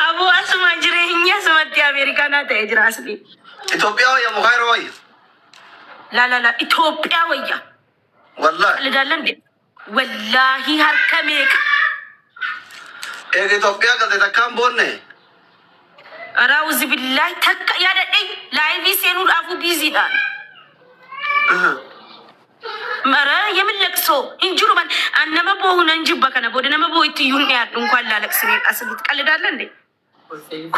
Aboo asuma jireenyi asumatti Ameerikaa naa ta'e jira asli. Itoophiyaa wayya moo Kaayiroo wayya? La la la Itoophiyaa wayya. Wallaahi. Lidaallan de. Wallaahi harka meeqa. Eega Itoophiyaa galte takkaan boonne. Raawuzi billaahi takka yaadadhe laayivii seenuudhaafuu biiziidhaan. Aha. Mara yemin laqso hin jiru man an nama boohu nan jibba kana booda nama boohu itti iyyuu hin dhiyaadhu inkwaan laalaqsine asirratti qallidaalla nde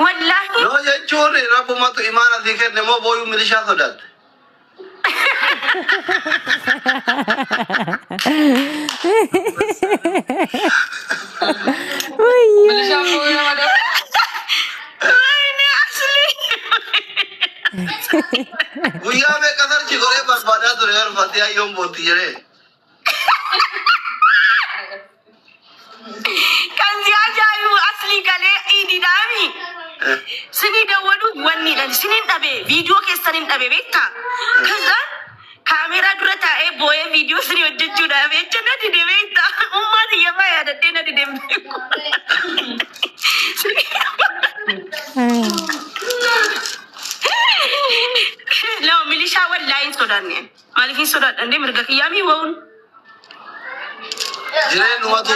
wallaahi Yoo jechuun rabbumatu imaana sii kenne moo booyuu milishaa sodaatte. Wayyo. Milishaan booyuu nama dha. Wayne Ashley. Guyyaa meeqa sarchi godhee barbaadaa ture bar fatee ayyoon bootti jedhee. Kan si ajaa'ibu asli galee idiidhaami. Sinii dawwaduuf wanni dhan sinin dhabe viidiyoo keessan hin dhabe beektaa. Kazaan Kaameeraa dura taa'ee boo'ee viidiyoo siree hojjechuudhaaf jecha na dide beekta. Ummaa tiyya faa yaadadhee na dide hin beeku. Nama milishaa wallaahi hin sodaanne. Maaliif hin sodaadha illee mirga kiyyaa mii wa'uun. Jireenyumatu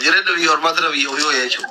jireenya biyya ormaatira biyya ofii wayya jechuudha.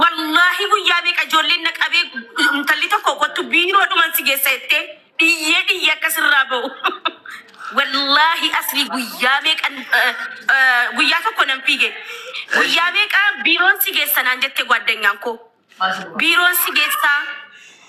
Wallaahi guyyaa meeqa ijoolleen na qabee intalli tokko kottu biiroo dhuman si geessa jettee dhiyyee dhiyyee akka sirraa ba'u. Wallaahi asli guyyaa meeqa eh, eh, guyyaa tokko nan fiige. Guyyaa meeqa biiroon si geessa naan jette gwaddanyaan koo. Biiroon si geessaa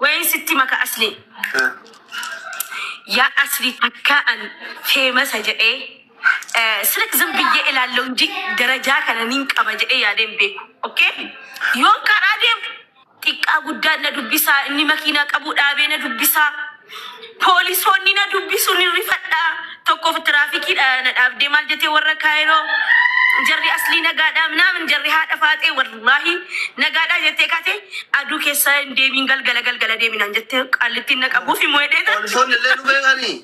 Wayiin sitti maka aslii. Yaa Aslii takkaa an feemasa jedhee sirik zim biyyee ilaallee hundi darajaa kana nin qaba jedhee yaadee hin beeku. Okay? Yoon karaa deemu xiqqaa guddaan na dubbisaa inni makiinaa qabuu dhaabee na dubbisaa. Poolisoonni na dubbisu ni rifadha. Tokkoof tiraafikiidha na dhaabdee maal jetee warra kaayiroo jarri aslii nagaadhaa minaamin jarri haadha faaxee wallaahi nagaadhaa jettee kate aduu keessa hin deebiin galgala galgala deeminaan jettee qaallittiin na qabuuf hin mo'edheeta. Poolisoonni illee nu beekanii.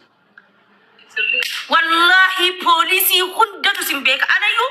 Wallaahi poolisii hundatu sin beeka anayyuu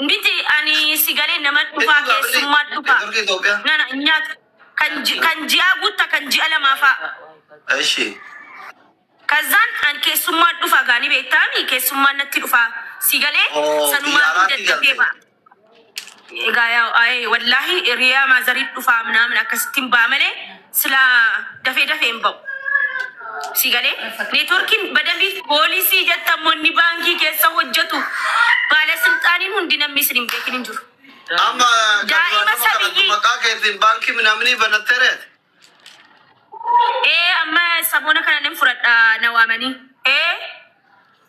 Miti ani si galee nama dhufaa keessummaa dhufaa nana nyaata kan ji- kan ji'aa guutta kan ji'a lamaa fa'a. Eshi. Kazzaan an keessummaa dhufaa gaanii beektaami keessummaan natti dhufaa si galee Oo, sanumaa xiyyaaraatti dadhabee galte. fa'a. Egaa yaa aayee wallaahi riyaa maazarii dhufaa minaamin akkasittiin ba'a malee Silaa dafee dafee hin ba'u. Si galee neetworkiin badamiif poolisii jettan immoo inni baankii keessa hojjetu baala silxaaniin hundi namni isin hin beekin hin jiru. Amma kan Daa'ima duraan nama kanattu sabiyyii. maqaa keetiin baankii minaaminii banattee reete. Ee amma saboona kana nan fudhadha na waamanii. Ee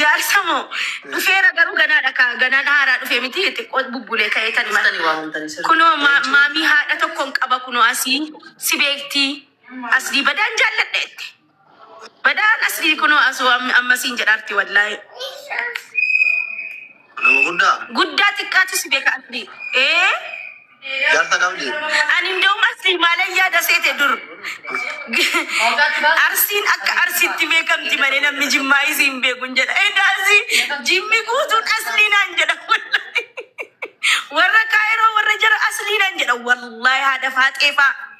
Jaarsa moo dhufeera garuu ganaadha ka ganaan haaraa dhufe miti xiqqoo bubbulee ka'ee kan himan. Kunoo ma- maamii haadha tokkoon qaba kunoo asii si beektii asii badaan jaalladha itti. Badaan asii kunoo asuu am- ammasiin jedhaarti wallaahi. Nama guddaa. Guddaa xiqqaatu si beeka asli. Ee. Jaarsa qabdi. Ani ndawum asli maalan yaada seete dur. Arsiin akka arsiitti beekamti malee namni jimmaa isii hin beeku hin jedha. Egaa asii jimmi guutuun aslii naan jedha. Warra kaayiroo warra jara aslii naan jedha. Wallaahi haadha faaxeefaa.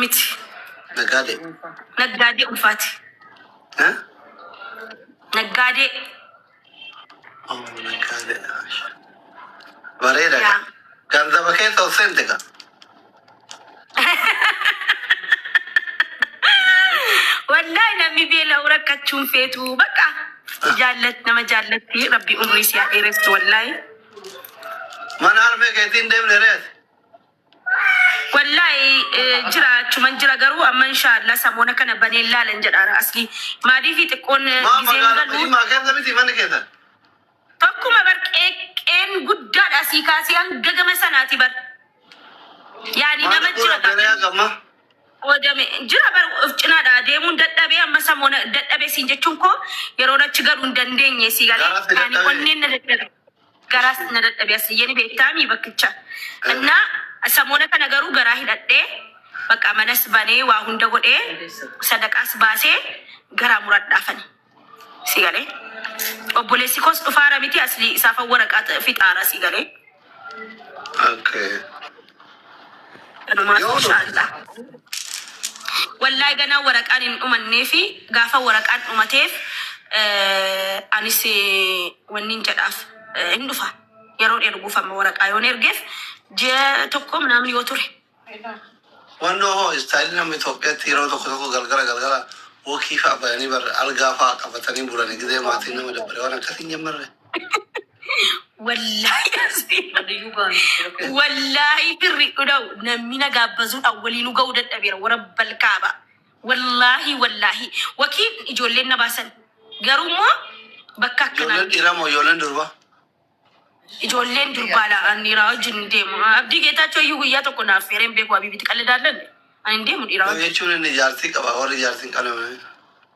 Miti. Nagaadee. Naggaadee ulfaati. Ha? Naggaadee. Oh, nagaadee. Bareeda. Yaa. Ganzaba keessa ol seente gaa. Wallahi namni beela'u rakkachuun feetu bakka jaallat nama jaallatti rabbi umrii si haa dheeressu wallahi. Mana harmee keetiin deemne reeti. Wallahi jira achuman jira garuu amma inshallah samoona kana baneen laalan jedha ara aslii maaliifi xiqqoon Maa gizeen magaalaa galu Jimmaa keessa miti manni keessan? tokkuma bar qeeqqeen guddaadha asii kaasee hanga gama sanaati bar yaani Maal nama jira bu'uura beelayaa gaafii gamma? qoodame jira bar of cinaadha deemuun dadhabee amma samoona dadhabee siin jechuun koo yeroon achi galu hin dandeenye sii galee Garaatti yaani dadhabee. onneen na dadhabe Garaas na dadhabe Asliyyeni beektaami bakkicha Inna samoona kana garuu garaa hidhadhee baqqaa manas banee waa hunda godhee sadaqaas baasee garaa muradhaafani si galee obboleessi koos dhufaara miti Aslii isaafan waraqaa fixaara si galee. Okay. Kanumaan inshallah. Wallahi ganaa waraqaan hin dhumanneefi gaafa waraqaan dhumateef eh, anis eh, wannin jedhaaf eh, hin dhufa yeroon erguuf amma waraqaa yoon ergeef ji'a tokko namni yoo ture Wannoo hoo istaayilii namni Itoophiyaatti yeroo tokko tokko galgala galgala wokii fa'aa bayanii barra algaa fa'aa qabatanii bulanii gidee maatiin nama dabbare waan akkasiin jammarre. Wallaahi asii. Wallaahi firri dhudhau namni na gaabbazuudhaan waliinu ga'uu dadhabeera warra balkaaba. Wallaahi wallaahi wakii ijoolleen na baasan garuu immoo bakka akkanaa Ijoolleen miti. dhiiramoo ijoolleen durbaa? Ijoolleen durbaa laa an dhiiraa wajjin hin deemu. Abdii Geetaachoo iyyuu guyyaa tokko na affeeree hin beeku Habiibitti qalladaallan ani hin deemu dhiiraa Yoo wajjin. jechuun inni jaartii qaba warri jaartii hin qabne.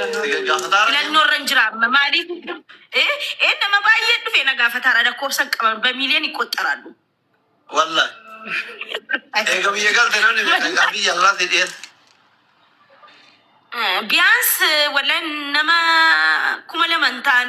Filannoo irra hin jira amma maaliif? Eh, eh, nama baay'ee dhufe na gaafataara lakkoofsa hin qaban bamiiliyoon hin qoxxaraallu. Wallah. Eega biyya galte namni beekan biyya alaa si dhiyeessa. Biyans wallahi nama kuma lama hin ta'an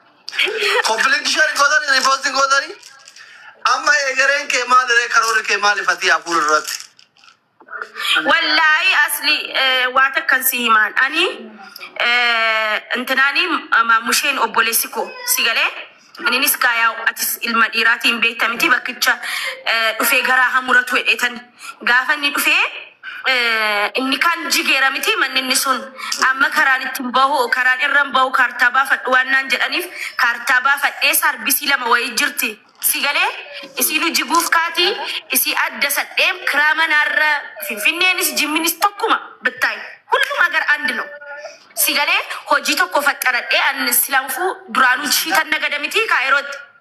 Koppiliin share gootanii riipoosti gootanii amma eegareen kee maaliree karoora kee maali fatii hafuur irratti. Wallaahi asli eh, waa takkan si himaan ani eh, intinaani maamusheen obboleessi koo si galee ininis gaayaa atis ilma dhiiraatiin beekta miti bakkicha eh, dhufee garaa hamuratu hedheetan Gaafa inni dhufe inni kaan jigeera miti manni inni sun amma karaan ittiin bahu karaan irran bahu kaartaa baafadhu waan naan jedhaniif kaartaa baafadhee saarbisii lama wayii jirti si galee isiinu jiguuf kaatii isii adda sadheem kiraa manaarra finfinneenis jimminis tokkuma bittaay hullum agar and no si galee hojii tokko faxxaradhee an silaanfuu duraanuu shiitan nagada miti kaayirootti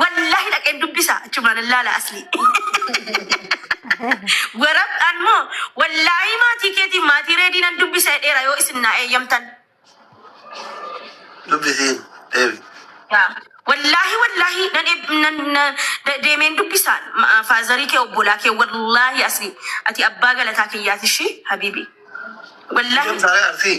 Wallahi dhaqeen dubbisa achumaan allaala asli. Warabdhaan moo wallahi maatii keetiin maatii reedii nan dubbisa jedheera yoo isin naa eeyyamtan. Dubbisiin deebi. Yaa, Wallahi wallahi nan eeb- nan na- de- deemeen dubbisa ma- faazarii kee obbolaa kee wallahi asli ati abbaa galataa kiyyaati ishii habiibi. Wallahi Deemtaalee arsii.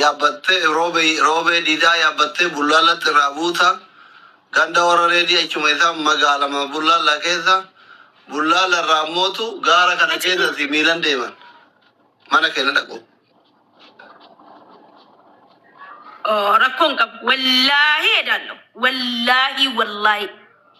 yaabbatte Roobee Diidaa yaabbattee Bullaallatti irraa buuta. Ganda Warra Reedii achuma isa magaalama Bullaallaa keessa. Bullaalla irraa ammootu gaara kana keessatti miilan deeman. Mana keenya dhaqu. Rakkoon qabu. Wallaahi edaalloo. Wallaahi wallaahi.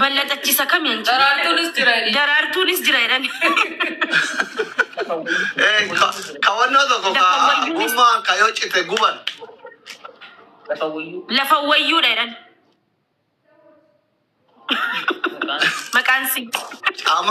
Ballaxachiisa kamiin jira? Daraartuunis jira jedhani. Daraartuunis jira jedhani. Eh, ka- kawannoo tokko ka Lafa wayyuunis- gommaa ka yoo cite guban Lafa wayyuu. Lafa wayyuudha jedhani. Maqaan si. caamaa